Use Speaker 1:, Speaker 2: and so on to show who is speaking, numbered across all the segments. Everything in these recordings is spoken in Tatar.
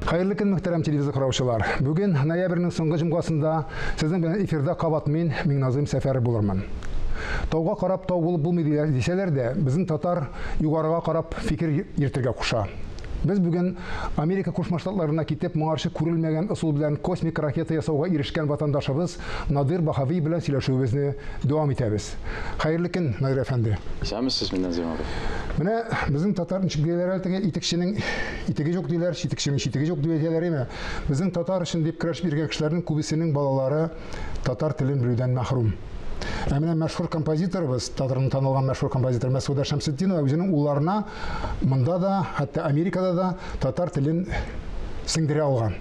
Speaker 1: Хәерле көн, мөхтәрәм телевизор караучылар. Бүген ноябрьнең соңгы җомгасында сезнең белән эфирда кабат мин, Миңназыйм Сәфәр булырмын. Тауга карап тау булып булмый дисәләр дә, безнең татар югарыга карап фикер йөртергә куша. Без бүген Америка Кушма Штатларына китеп, моңарчы күрелмәгән ысул белән космик ракета ясауга ирешкән ватандашыбыз Надир Баһави белән сөйләшүебезне дәвам итәбез. Хәерле көн, Надир әфәнде. Исәнмесезме, Назим
Speaker 2: абый? Менә безнең
Speaker 1: татар ничек диләр әле теге итекченең итеге юк диләр, читекченең читеге юк диләр име? Безнең татар өчен дип көрәшеп йөргән кешеләрнең күбесенең балалары татар телен белүдән мәхрүм. Ә менә мәшһүр композиторыбыз, татарның танылган мәшһүр композиторы Мәсгудә Шәмсетдинова үзенең улларына Монда да, хәтта Америкада да татар телен сеңдерә алган.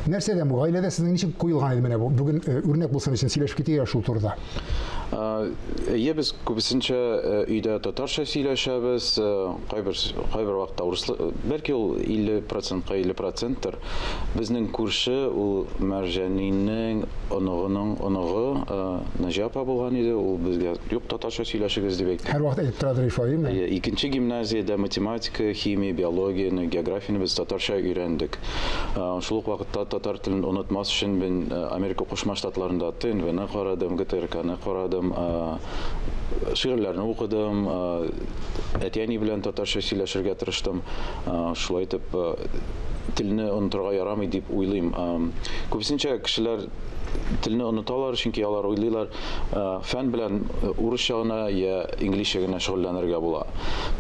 Speaker 1: Нәрсәдән бу? Гаиләдә сезнең ничек куелган иде менә бу? Бүген э, үрнәк булсын өчен сөйләшеп китәйек шул турыда.
Speaker 2: Әйе, без күбесенчә э, өйдә татарча сөйләшәбез, э, кайбер кайбер вакытта урыс, бәлки ул 50%-ка 50%-тыр. Безнең күрше, ул Мәрҗәнинең оныгының оныгы Наҗи апа булган иде, ул безгә, Юк, татарча сөйләшегез, дип әйтте. Һәрвакыт әйтеп торадыр Ифаим.
Speaker 1: Әйе, икенче гимназиядә
Speaker 2: математика, химия, биологияне, географияне без татарча өйрәндек. Шул ук вакытта татар телен онытмас өчен мин Америка Кушма Штатларында ТНВны карадым, ГТРКны карадым, шигырьләрне укыдым, әти-әни белән татарча сөйләшергә тырыштым. Шулай итеп, телне онытырга ярамый дип уйлыйм. Күбесенчә кешеләр телне оныталар, чөнки алар уйлыйлар, фән белән урысча гына йә инглизчә генә шөгыльләнергә була.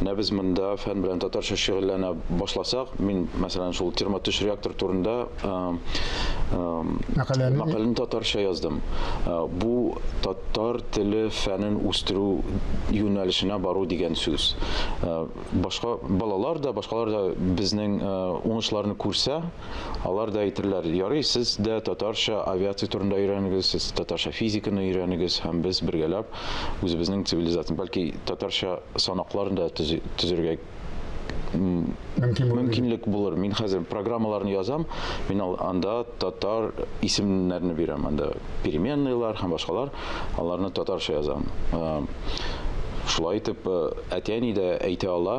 Speaker 2: Менә без монда фән белән татарча шөгыльләнә башласак, мин, мәсәлән, шул термотөш реактор турында мәкаләне татарча яздым. Бу татар теле фәнен үстерү юнәлешенә бару дигән сүз. Башка балалар да, башкалар да безнең уңышларны күрсә, алар да әйтерләр, ярый, сез дә татарча авиация турында өйрәнегез, сез татарча физиканы өйрәнегез, һәм без бергәләп үзебезнең цивилизацияне, бәлки татарча санакларын да төзергә мөмкинлек булыр. Мин хәзер программаларны язам, мин анда татар исемнәрне бирәм, анда переменныйлар һәм башкалар. аларны татарча язам. Шулай итеп, әти-әни дә әйтә ала,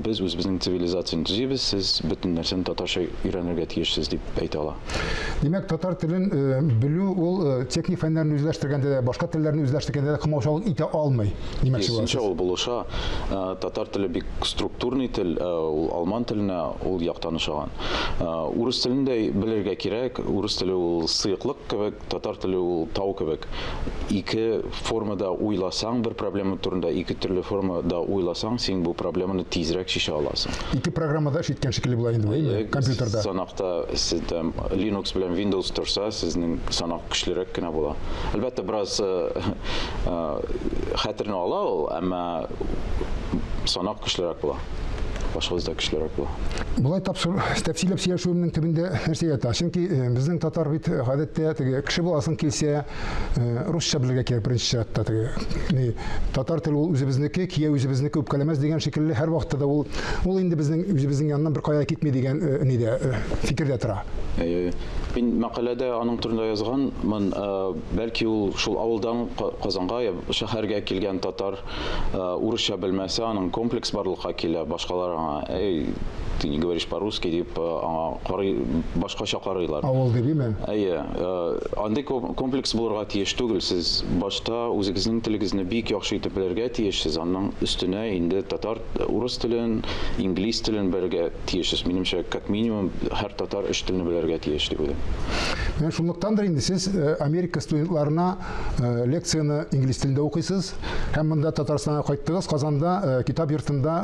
Speaker 2: без үзебезнең цивилизацияне төзибез, сез бөтен нәрсәне татарча өйрәнергә тиешсез дип әйтә ала. Димәк, татар
Speaker 1: телен белү ул техник фәннәрне үзләштергәндә дә, башка телләрне үзләштергәндә дә комаучалык итә алмый. Димәк, шулай. Ул булыша.
Speaker 2: Татар теле бик структурный тел, ул алман теленә ул яктан ошаган. Урыс телен дә белергә кирәк. Урыс теле ул сыеклык кебек. Татар теле ул тау кебек. Ике формада уйласаң, бер проблема турында ике төрле формада уйласаң, син бу проблеманы тизрәк чишә аласың. Ике программада эш
Speaker 1: иткән шикелле була инде бу, э, компьютерда. Санакта сез
Speaker 2: там Linux белән Windows торса, сезнең санак көчлерәк кенә була. Әлбәттә, бераз э, э, хәтерне ала ул, әмма санак көчлерәк була. башыгызда көчлерәк була. Болай тапсыр,
Speaker 1: тәфсилләп сөйләшүемнең төбендә нәрсә ята? Чөнки э, безнең татар бит э, гадәттә теге кеше буласың килсә, э, русча белергә кирәк беренче чиратта теге. Ни, татар теле ул үзебезнеке, кия үзебезнеке үпкәләмәс дигән шикелле һәр вакытта да ул ул инде безнең үзебезнең яннан бер кая китми дигән нидә фикердә тора. Мин
Speaker 2: мәкаләдә аның турында язганмын, бәлки ул шул авылдан Казанга я шәһәргә килгән татар Урысча белмәсә, аның комплекс барлыкка килә, башкалар аңа, Әй, ты не говоришь по-русски, дип, аңа карый, башкача карыйлар. Авыл дибиме? Әйе. Андый комплекс булырга тиеш түгел. Сез башта үзегезнең телегезне бик яхшы итеп белергә тиешсез, анның өстенә инде татар, урыс телен, инглиз телен белергә тиешсез. Минемчә, как минимум, һәр татар өч телне белергә тиеш дип уйлыйм. Менә шунлыктандыр
Speaker 1: инде сез Америка студентларына Э, лекцияне инглиз телендә укыйсыз һәм монда татарстанга кайттыгыз казанда э, китап йортында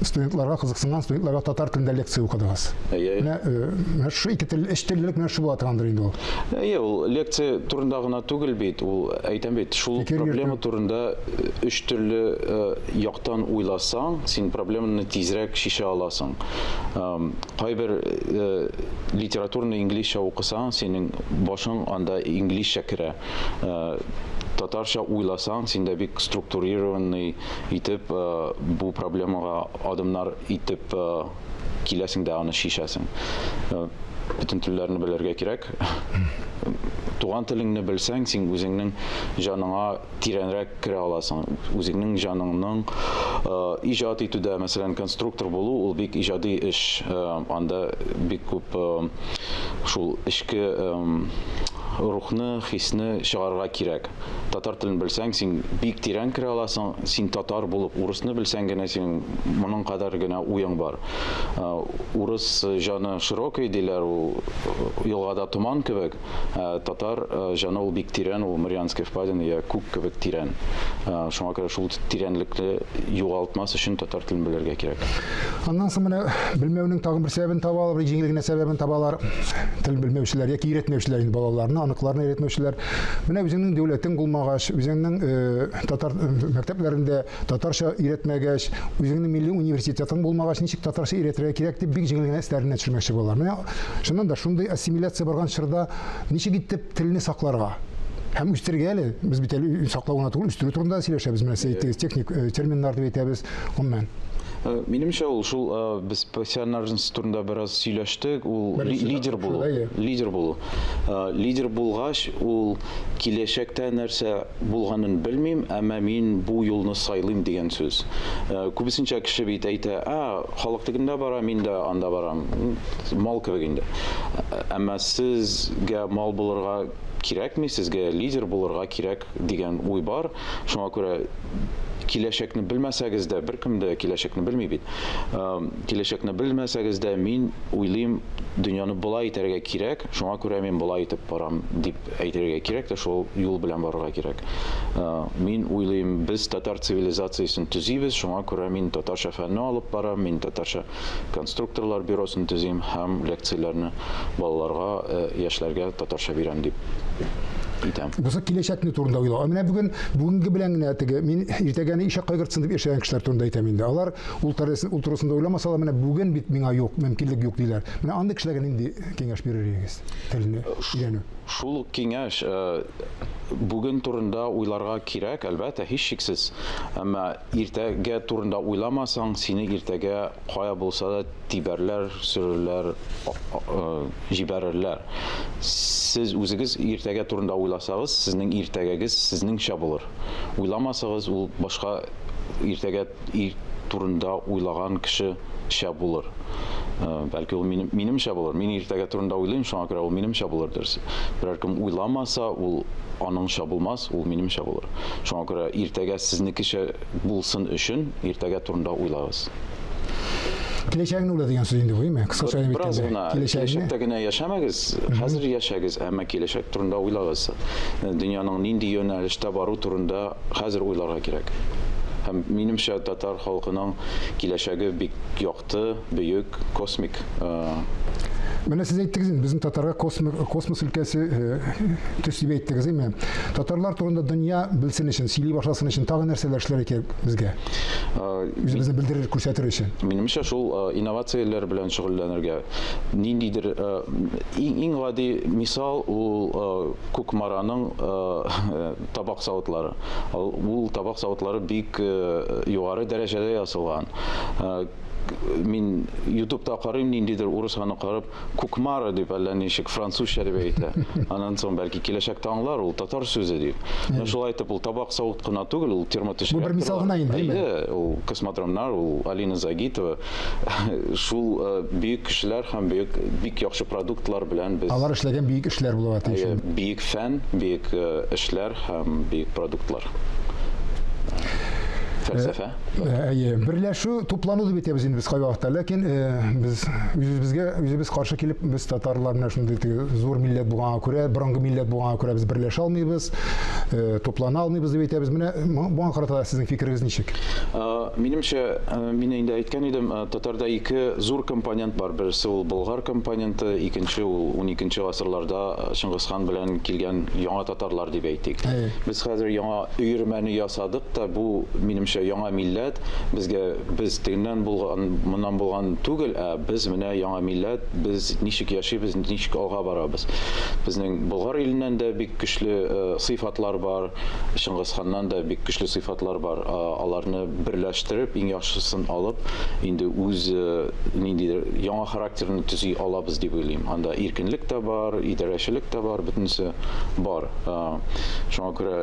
Speaker 1: студентларга кызыксынган студентларга татар телендә лекция укыдыгыз менә э, менә шушы ике тел өч теллелек менә шушы була торгандыр инде ул әйе ул лекция
Speaker 2: турында гына түгел бит ул әйтәм бит шул проблема турында өч төрле яктан уйласаң син проблеманы тизрәк шешә аласың Кайбер литератураны инглизчә укысаң, синең башың анда инглизчә керә. Татарча уйласаң, синдә бик структурированный итеп бу проблемага адымнар итеп киләсең дә аны чишәсең. Бөтен телләрне белергә кирәк. Туган телеңне белсәң, син үзеңнең җаныңа тирәнрәк керә аласың. Үзеңнең җаныңның иҗат итүдә, мәсәлән, конструктор булу, ул бик иҗади эш. Анда бик күп шул эчке рухны, хисне чыгарырга кирәк. Татар телен белсәң, син бик тирән керә аласың. Син татар булып урысны белсәң генә, синең моның кадәр генә уең бар. Урыс җаны широкий диләр, ул елгада томан кебек. Ә, татар ә, җаны ул бик тирән, ул Марианская впадина я күк кебек тирән. Ә, шуңа күрә шул тирәнлекне югалтмас өчен татар телен белергә кирәк. Аннан соң менә
Speaker 1: белмәүнең тагын бер сәбәбен табалар, бер җиңел генә сәбәбен табалар. Тел белмәүчеләр яки өйрәтмәүчеләр инде балаларны, аныкларны өйрәтмәүчеләр. Менә үзеңнең дәүләтең булмагач, үзеңнең э, татар мәктәпләрендә Татарча өйрәтмәгәч, үзеңнең милли университетың булмагач, ничек татарча өйрәтергә кирәк дип бик җиңел генә өсләренә төшермәкче булалар. Менә шуннан да шундый ассимиляция барган чорда ничек итеп телне сакларга? һәм үстерергә әле без бит әле саклау гына түгел үстерү турында да сөйләшәбез менә сез әйттегез техник э, терминнар дип әйтәбез гомумән э, Минемчә
Speaker 2: ул шул э, без профессиональность турында бераз сөйләштек, ул лидер булу. Лидер булу. Лидер булгач, ул киләчәктә нәрсә булганын белмим, әмма мин бу юлны сайлыйм дигән сүз. Күбесенчә кеше бит әйтә, ә, халык тегендә бара, мин дә анда барам. Мал кебек инде. Әмма сезгә мал булырга кирәкми, сезгә лидер булырга кирәк дигән уй бар. Шуңа күрә киләчәкне белмәсәгез дә, беркем дә киләчәкне белми бит. Киләчәкне белмәсәгез дә, мин уйлыйм, дөньяны болай итәргә кирәк, шуңа күрә мин болай итеп барам, дип. әйтергә кирәк тә шул юл белән барырга кирәк. Мин уйлыйм, без татар цивилизациясен төзибез, шуңа күрә мин татарча фәнне алып барам, мин татарча конструкторлар бюросын төзим һәм лекцияләрне балаларга, яшьләргә татарча бирәм дип итәм. Бусы киләчәкне
Speaker 1: турында уйлау. Менә бүген бүгенге белән генә теге мин иртәгәне ишәк кайгыртсын дип яшәгән кешеләр турында әйтәм инде. Алар ул тәрәзәсен ул турысында уйламасалар, менә бүген бит миңа юк, мөмкинлек юк диләр. Менә андый кешеләргә нинди киңәш бирер идегез? телне өйрәнү. Шул ук киңәш
Speaker 2: бүген турында уйларга кирәк, әлбәттә, һичшиксез. Әмма иртәгә турында уйламасаң, сине иртәгә кая булса да тибәрләр, сөрерләр, җибәрерләр. Сез үзегез иртәгә турында уйласагыз, сезнең иртәгәгез сезнеңчә булыр. Уйламасагыз, ул башка иртәгә Ир турында уйлаган кеше шә булыр. Бәлки ул минем, минемчә булыр. Мин иртәгә турында уйлыйм, шуңа күрә ул минемчә булыр дөрес. Берәр кем уйламаса, ул аныңча булмас, ул минемчә булыр. Шуңа күрә иртәгә сезнекечә булсын өчен иртәгә турында уйлагыз.
Speaker 1: Киләчәгеңне уйла дигән сүз инде бу, әйме? Кыскача гына Бераз гына киләчәктә
Speaker 2: генә яшәмәгез, хәзер яшәгез, әмма киләчәк турында уйлагыз. Дөньяның нинди юнәлештә бару турында Хәзер уйларга кирәк. Һәм, минемчә, татар халкының киләчәге бик якты, бөек, космик.
Speaker 1: Менә сез әйттегез инде, безнең татарга космос, космос өлкәсе төс дип әйттегез, әйме? Татарлар турында дөнья белсен өчен, сөйли башласын өчен тагы нәрсәләр эшләргә кирәк безгә? Үзебезне белдерер, күрсәтер өчен. Минемчә, шул
Speaker 2: инновацияләр белән шөгыльләнергә. Ниндидер иң гади мисал ул Кукмараның табак савытлары. Ул табак савытлары бик югары дәрәҗәдә ясалган. Мин ютубта карыйм, ниндидер урыс аны карап, кукмара дип әллә ничек французча дип әйтә. Аннан соң бәлки киләчәктә аңлар ул татар сүзе дип. Менә шулай итеп ул табак савыт кына түгел, ул термотешрәк. Бу бер мисал гына инде.
Speaker 1: Ул космодромнар,
Speaker 2: ул Алина Загитова, шул э, бөек кешеләр һәм бөек бик яхшы продуктлар белән без Алар эшләгән бөек эшләр
Speaker 1: булырга тиеш. Әйе, бөек фән,
Speaker 2: бөек э, эшләр һәм бөек продуктлар. Фәлсәфә. Э, Әйе, берләшү,
Speaker 1: туплану дип әйтәбез инде без кайвакытта, ләкин э, без үзебезгә үзебез каршы килеп, без татарлар менә шундый теге зур милләт булганга күрә, борынгы милләт булганга күрә без берләшә алмыйбыз, э, туплана алмыйбыз дип әйтәбез. Менә мо- моңа карата сезнең фикерегез ничек? Э, Минемчә,
Speaker 2: мин инде әйткән идем, татарда ике зур компонент бар, берсе ул болгар компоненты, икенче ул уникенче гасырларда Чыңгызхан белән килгән яңа татарлар дип әйтик. Без хәзер яңа өермәне ясадык та, бу, минемчә, яңа милләт, безгә без тегеннән булган, моннан булган түгел, ә без менә яңа милләт, без ничек яшибез, ничек алга барабыз. Безнең Болгар иленнән дә бик көчле сыйфатлар бар, Чыңгызханнан да бик көчле сыйфатлар бар. Атлар бар, аларны берләштереп, иң яхшысын алып, инде үз ниндидер яңа характерны төзи алабыз дип уйлыйм. Анда иркенлек тә бар, идарәчелек тә бар, бөтенесе бар. Шуңа күрә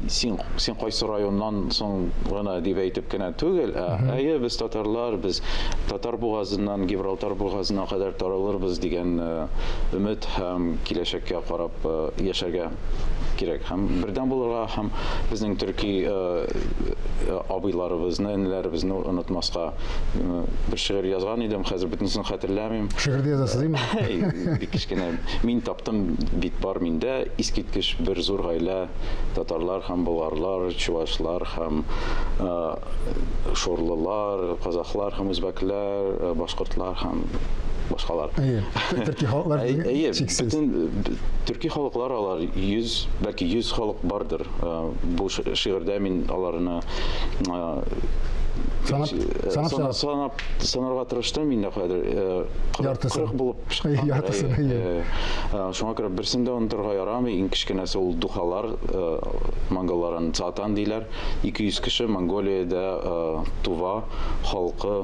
Speaker 2: син, син кайсы районнан соң гына дип әйтеп кенә түгел, ә әйе, без татарлар, без Татар бугазыннан Гибралтар бугазына кадәр таралырбыз дигән өмет һәм киләчәккә карап яшәргә кирәк һәм бердәм булырга һәм безнең төрки э, э, абыйларыбызны, энеләребезне онытмаска э, бер шигырь язган идем, хәзер бөтенесен хәтерләмим. Шигырьдә язасыз димме?
Speaker 1: Бик кечкенә.
Speaker 2: Мин таптым бит бар миндә искиткеч бер зур гаилә татарлар һәм болгарлар, чувашлар һәм Шорлылар, казахлар һәм үзбәкләр, башкортлар һәм башкалар. Әйе, төрки
Speaker 1: халыклар әйе, чиксез.
Speaker 2: Төрки халыклар алар 100, бәлки 100 халык бардыр. Бу шигырьдә мин аларны санап санап санарга тырыштым инде хәзер 40 булып чыккан яртысын шуңа күрә берсен дә онытырга ярамый иң кечкенәсе ул духалар монголлар аны цатан диләр 200 кеше Монголиядә туа, халкы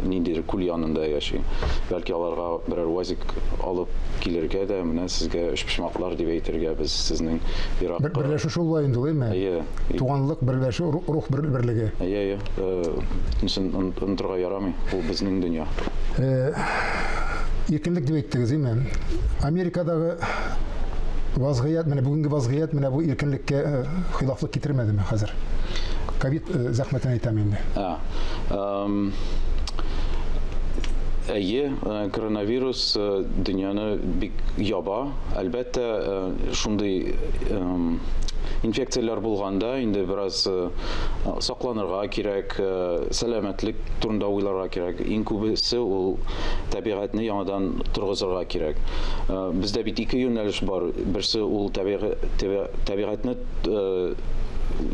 Speaker 2: ниндидер күл янында яши. Бәлки аларга берәр УАЗик алып килергә дә, менә сезгә өчпочмаклар дип әйтергә без сезнең ерак. Бер берләшү шул була инде ул,
Speaker 1: әйме? Әйе. Туганлык, берләшү, рух берлеге. Әйе, әйе.
Speaker 2: Э, ничен онытырга яра. ярамый, ул безнең дөнья.
Speaker 1: Иркенлек дип әйттегез, ди мен. Америкадагы вазгыять, менә бүгенге вазгыять менә бу иркенлеккә э, хилафлык китермәдеме хәзер? Ковид э, зәхмәтен әйтәм инде. Әйе,
Speaker 2: э, коронавирус дөньяны бик яба. Әлбәттә, шундый инфекцияләр булганда инде бераз сакланырга Га кирәк, сәламәтлек турында уйларга кирәк. Иң күбесе ул табигатьне яңадан торгызырга кирәк. Бездә бит ике юнәлеш бар, берсе ул табигатьне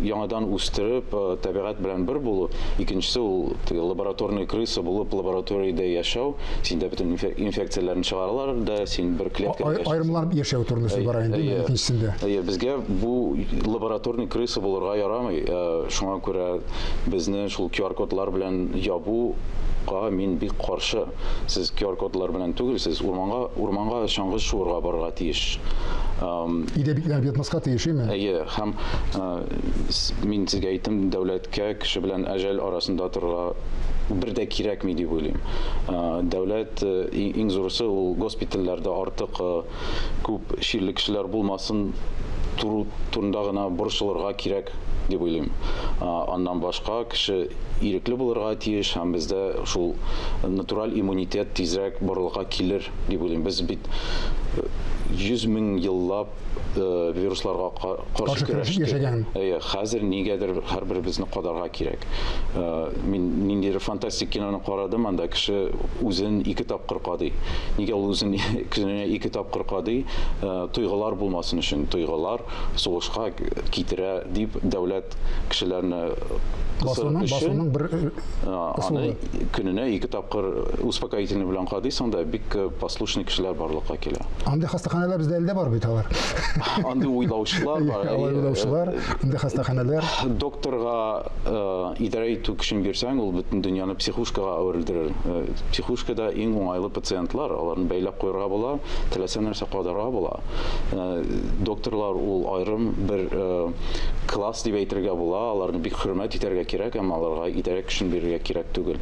Speaker 2: яңадан үстереп, табигать белән бер булу, икенчесе ул теге лабораторный крыса булып лабораториядә яшәү, синдә бөтен инфекцияләрне чыгаралар да, син бер клеткада яшисең. Аерымланып яшәү турында сүз
Speaker 1: бара инде икенчесендә. Әйе, безгә бу
Speaker 2: лабораторный крыса булырга ярамый. Шуңа күрә безне шул QR-кодлар белән ябу га мин бик каршы. Сез QR-кодлар белән түгел, сез урманга, урманга чаңгы шуырга барырга тиеш.
Speaker 1: Өйдә битләр ятмаска тиеш, име? Әйе, һәм
Speaker 2: мин сезгә әйттем, дәүләткә кеше белән әҗәл арасында торырга бер дә кирәкми дип уйлыйм. Дәүләт, иң зурысы, ул госпитальләрдә артык күп чирле кешеләр булмасын тору турында гына борчылырга кирәк дип уйлыйм. Аннан башка кеше ирекле булырга тиеш һәм бездә шул натураль иммунитет тизрәк барлыкка килер дип уйлыйм. Без бит 100 мең еллап вирусларга каршы көрәштек. Әйе, хәзер нигәдер һәрберебезне кадарга кирәк. Мин ниндидер фантастик киноны карадым, анда кеше үзен ике тапкыр кадый. Нигә ул үзен кешене ике тапкыр кадый? Тойгылар булмасын өчен, тойгылар сугышка китерә дип дәүләт кешеләрне кысыр
Speaker 1: өчен аны
Speaker 2: көненә ике тапкыр успокоительный белән кадыйсың да бик послушный кешеләр барлыкка килә. Андый хастаханәләр бездә
Speaker 1: әле дә бар бит алар. Андый
Speaker 2: уйлаучылар бар. Алай уйлаучылар,
Speaker 1: андый хастаханәләр. Докторга
Speaker 2: идарә итү көчен бирсәң, ул бөтен дөньяны психушкага әверелдерер. Психушкада иң уңайлы пациентлар, аларны бәйләп куярга була, теләсә нәрсә кадарга була. Докторлар ул аерым бер класс дип әйтергә була, аларны бик хөрмәт итәргә кирәк, әмма аларга идарә көчен бирергә кирәк түгел.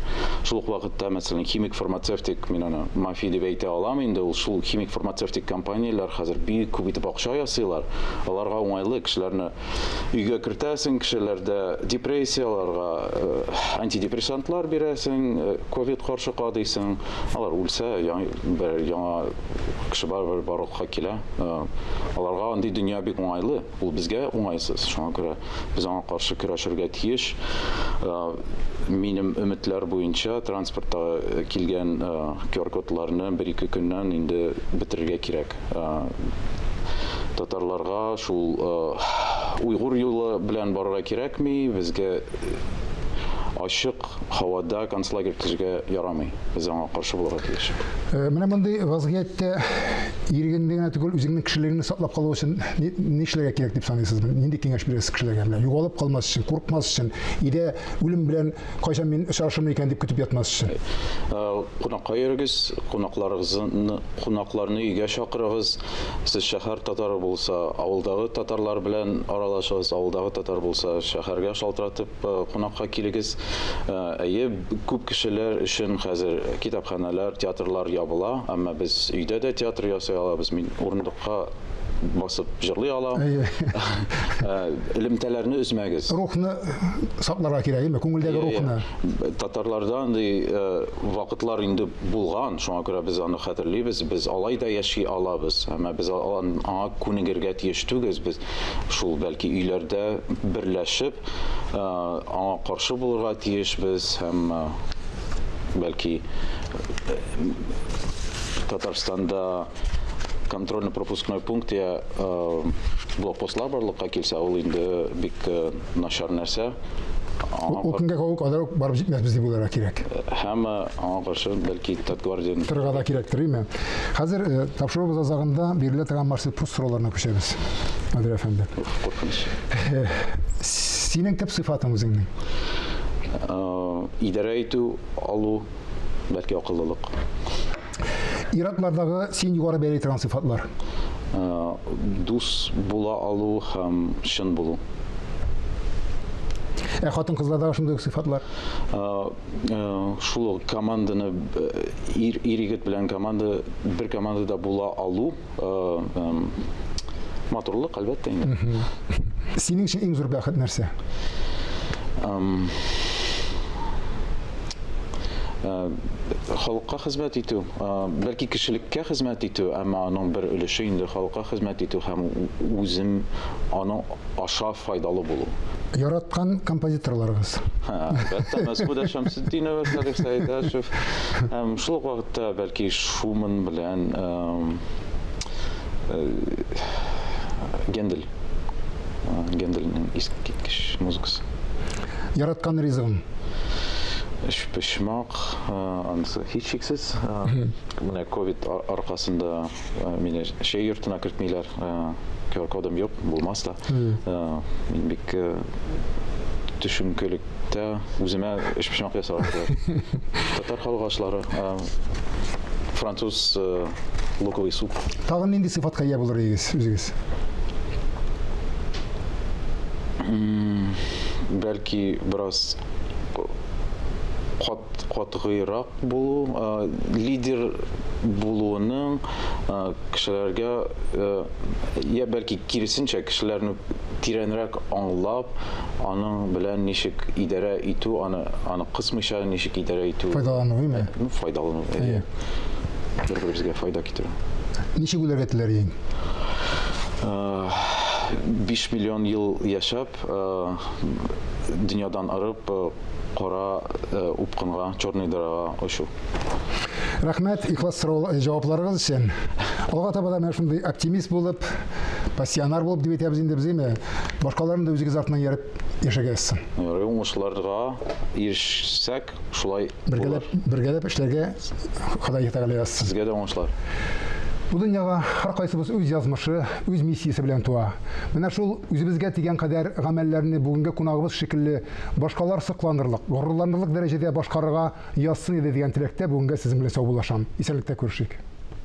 Speaker 2: Шул ук вакытта, мәсәлән, химик-фармацевтик, мин аны мафия дип әйтә алам инде, ул шул химик-фармацевтик компанияләр хәзер бик күп итеп акча ясыйлар, аларга уңайлы, кешеләрне Өйгә кертәсең, кешеләрдә депрессияләргә антидепрессантлар бирәсең, ковид каршы кадыйсың. Алар үлсә, бер яңа кеше барыбер барлыкка килә. Аларга андый дөнья бик уңайлы, ул безгә уңайсыз. Шуңа күрә без аңа каршы көрәшергә тиеш. Минем өметләр буенча транспортта килгән QR-кодларны бер-ике көннән инде бетерергә кирәк. Татарларга шул уйгур юлы белән барырга кирәкми, безгә ачык һавада концлагерь төзергә ярамый. Без аңа каршы булырга тиеш. Э, менә мондый
Speaker 1: вазгыятьтә ирегеңне генә түгел, үзеңнең кешелегеңне саклап калу өчен ни эшләргә кирәк дип саныйсыз? Нинди киңәш бирәсез кешеләргә? Менә югалып калмас өчен, куркмас өчен, идә үлем белән Кайчан мин очрашырмын икән дип көтеп ятмас өчен. Э, кунакка
Speaker 2: йөрегез, кунакларыгызны, кунакларны өйгә чакырыгыз. Сез шәһәр татары булса, авылдагы татарлар белән аралашыгыз, авылдагы татар булса, шәһәргә шалтыратып э, кунакка килегез. Э, әйе, күп кешеләр өчен хәзер китапханәләр, театрлар ябыла, әмма без өйдә дә театр ясый алабыз. Мин урындыкка басып җырлый ала. Элемтәләрне өзмәгез. Рухны
Speaker 1: сакларга кирәк, әйме? Күңелдәге рухны. Татарларда
Speaker 2: андый вакытлар инде булган, шуңа күрә без аны хәтерлибез. Без алай да яши алабыз, әмма без аңа күнегергә тиеш түгез. Без шул бәлки өйләрдә берләшеп аңа каршы булырга тиешбез һәм бәлки Татарстанда Контрольно-пропускной пункт я блокпостлар барлыкка килсә, ул инде бик начар нәрсә. Ул
Speaker 1: көнгә калу кадәр үк барып җитмәсбез дип уйларга кирәк. Һәм аңа
Speaker 2: каршы бәлки Татгвардиянең Торырга да кирәктер, юкмы?
Speaker 1: Хәзер тапшыруыбыз азагында бирелә торган Марсельпрус сорауларына күчәбез, Наdir әфәнде. Куркыныч. Синең төп сыйфатың үзеңнең?
Speaker 2: Идарә итү алу, бәлки акыллылык. Ир-атлардагы
Speaker 1: син югары бәяли торган сыйфатлар. Дус
Speaker 2: була алу һәм чын булу.
Speaker 1: Ә хатын-кызлардагы шундый ук сыйфатлар. Шул
Speaker 2: команданы ир-егет белән команда бер командада була алу. Матурлык, әлбәттә инде. Синең
Speaker 1: өчен иң зур бәхет нәрсә?
Speaker 2: Халыкка хезмәт итү, бәлки кешелеккә хезмәт итү, әмма аның бер өлеше инде халыкка хезмәт итү һәм үзем аның аша файдалы булу. Яраткан
Speaker 1: композиторларыгыз? Һә, әлбәттә,
Speaker 2: Мәсгудә Шәмсетдинова, Салих Сәйдәшев һәм шул ук вакытта бәлки Шуман белән Гендель. Гендельнең искиткеч музыкасы. Яраткан
Speaker 1: ризыгым? Өчпочмак,
Speaker 2: анысы һичшиксез. Менә ковид аркасында Мине шәй йортына кертмиләр, QR-кодым юк, булмас та. Мин бик төшенкелектә үземә эчпочмак ясарга кирәк. Татар халык ашлары, француз луковый суп. Тагын нинди сыйфатка
Speaker 1: ия булыр идегез үзегез?
Speaker 2: Бәлки бераз кат катгыйрак Булу, лидер булуының кешеләргә, йә бәлки киресенчә, кешеләрне тирәнрәк аңлап, аның белән ничек идарә итү, аны аны кысмыйча ничек идарә итү. Файдалану, име? Ну,
Speaker 1: файдалану, әйе.
Speaker 2: Бер-беребезгә файда китерү. Ничек үләргә
Speaker 1: теләр идең?
Speaker 2: Биш миллион ел яшәп, дөньядан арып, кара упкынга, черный дырага очу.
Speaker 1: Рәхмәт ихлас сорау җавапларыгыз өчен. Алга таба да менә шундый оптимист булып, пассионар булып дип әйтәбез инде без, әйме? Башкаларны да үзегез артыннан ярып яшәгәсез. Ярый, уңышларга
Speaker 2: ирешсәк, шулай булыр. Бергәләп
Speaker 1: эшләргә Ходай Тәгалә язсын. Сезгә дә уңышлар.
Speaker 2: Бу
Speaker 1: дөньяга һәркайсыбыз үз язмышы, үз миссиясе белән туа. Менә шул үзебезгә дигән кадәр гамәлләрне бүгенге кунагыбыз шикелле Башкалар сокланырлык, горурланырлык дәрәҗәдә башкарырга язсын иде дигән теләктә бүгенгә сезнең белән саубуллашам. Исәнлектә күрешик!